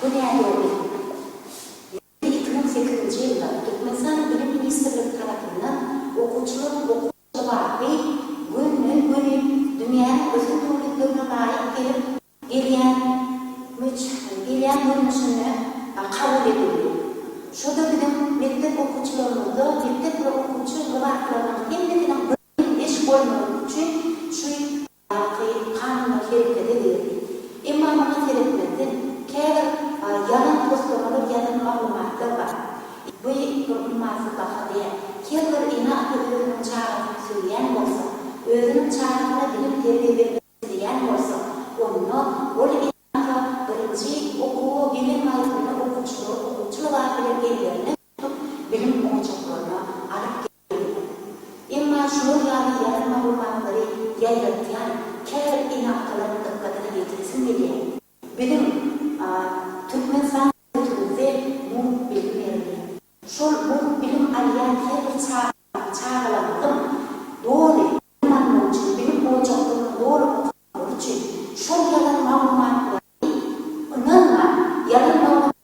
Bu nädogry. Ýöne iki müň sekizinji ýylda Türkmenistanyň Bilim ministrligi tarapyndan okuwçylaryň okuw kybapy günden-güni dünýäniň ösen döwletlerine laýyk gelip gelýän gelýän görnüşinde kabul edildi. Şo-da biziň mekdep okuwçylarymyzda mekdep we okuwçy gybaplarynyň hemmesiniň birden neşir bolmagy üçin şu Baky kanunda hereket edýär. Emma muňa seretmezden, käbir ýalan toslamalar, ýalan maglumatlar bar. Bu bir ummasyz baha däl. Her bir ene-ata özüniň çagasyny söýýän bolsa, özüniň çagasyna bilim-terbiýe bermek isleýän bolsa, onda ol ene-ata birinji okuwa gelen wagtynda okuwçylary okuwçy lybasy bilen ellerine tutup, bilim ojaklaryna alyp gelmeli. Emma şular ýaly ýalan maglumatlary ýaýratýan käbir inakalaryň dykgatyna ýetiresiň gelýär. Biziň Türkmenistan döwletimizde mugt bilim berilýär. Şol mugt bilim alýan her bir çaganyň, çagalarymyzyň doly bilim almagy üçin, bilim ojaklarynda doly okamagy üçin şol ýalan maglumatlary ynanman, ýalan maglumatlary